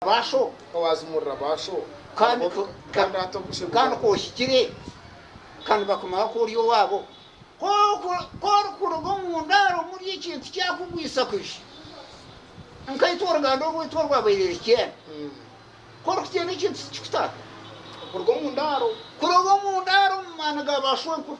Baasho ka waazimurira baasho kandi ka ohikire ka nibakumanya ku ori owaabo. Ka orikuruga omu ndaaro omuri ekintu kyakugwisa kwija, nkaitwe oruganda orwaitu orwabaire Rikyenda, ka orikugyenda ekintu tikikutaata. Kuruga omu ndaaro. Kuruga omu ndaaro omu maani ga baasho enkuru.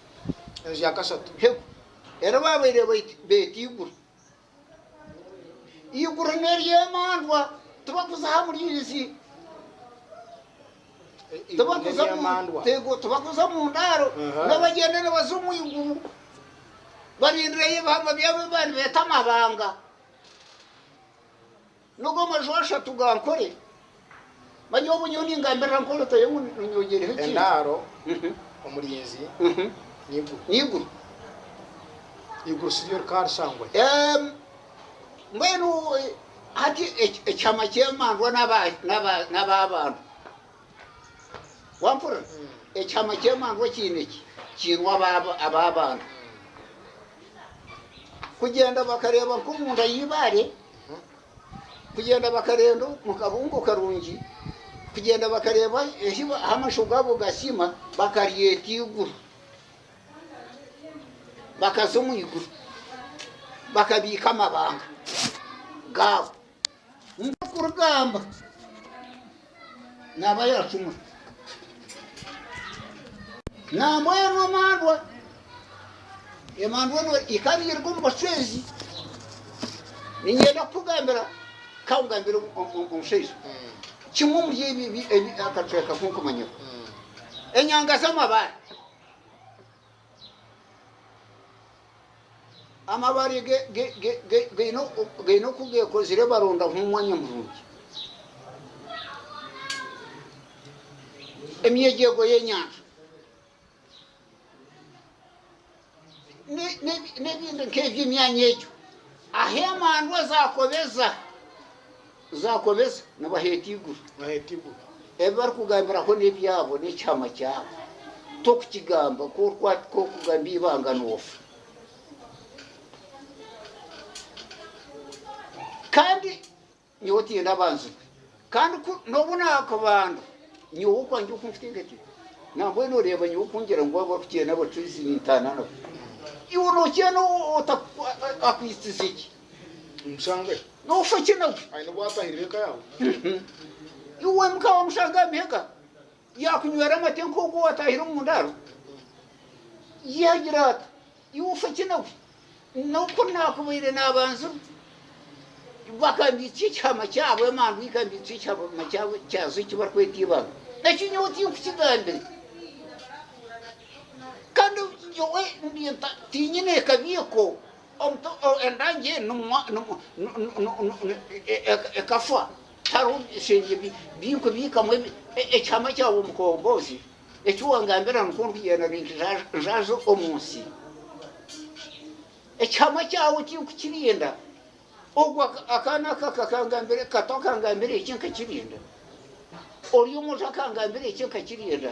enju ya kashatu hegu eri baabaire beeta iguru. Iguru n'ery'emandwa tibakuza aha muriizi tibakuza omu ndaaro nibagyenda nibaza omu iguru barindireyo ebihangwa byabo ebi babaire nibeeta amabanga. N'ogu amaju ashatu ga nkore. Manya obu nyowe ningambirira nkore otayo ngu nonyogyereho ekintu. Endaaro, omurinzi, n'eiguru. N'eiguru. Eiguru si ryo rikaba rishangwa ki? Mbwenu hati ekihama ky'emandwa n'ab'abantu. Wampurira? Ekihama ky'emandwa kiine ki? Kiine aba- ab'abantu. Kugyenda bakareeba nk'omunda y'eibaare, kugyenda bakarenda omu kabungo karungi, kugyenda bakareeba ehi ba- ahu amasho gaabo gasiima, bakaryeta eiguru. Bakaza omu iguru, bakabiika amabanga gaabo. Ndikugamba naaba yaacumura. Nambwenu emandwa, emandwa eno ikaba iri omu bacwezi, ninyenda kukugambira kangambire omushaija kimwe omuri ebi akacweka kunkumanyaho enyanga z'amabaare Amabaare gaine oku geekozire barondaho omwanya murungi. Emyegyego y'enyanja n'ebindi nk'ebyo emyanya egyo ahu emandwa zaakobeza Zaakobesa nabo aheeta eiguru. Ebi barikugambiraho n'ebyabo, n'ekyama kyabo. Tokukigamba, ku orikugamba eibanga noofa. Kandi nyowe tiine abanzirwe. Kandi ku n'obu naakubandwa, nyowe okwangye oku nkuteekateeka, nambwenu oreeba nyowe oku ngira ngu abu orikugyenda nabo tizi ntaana nabo. Iwe noogyenda otaku, a- a- akwitsize ki? Omushangwe nofa ki nawe aine obu atahirire eka yawe iwe muka wamushanga aha mihega yakunywera amate nk'ogu owatahire omu ndaaro yagira ata iwe ofa ki nawe noku nakubaire nabanzirwe bakambiitsya ekihama kyabo emandu ikambiitsya ekihama kyabo kyazo eki barikweta ibanga eki nyowe tinkukigambire kandi nyowe tinyine kabi eko Endangi enu ekafa hariho ebishengye byayo biikamu ekihama kyawe omukombozi, eki wangambira nikwo ndikugyenda ninjaaza omu nsi. Ekihama kyawe tirikukirinda, ogwo akaana aka kato akangambira eki nkakirinda, ori omwojo akangambira eki nkakirinda.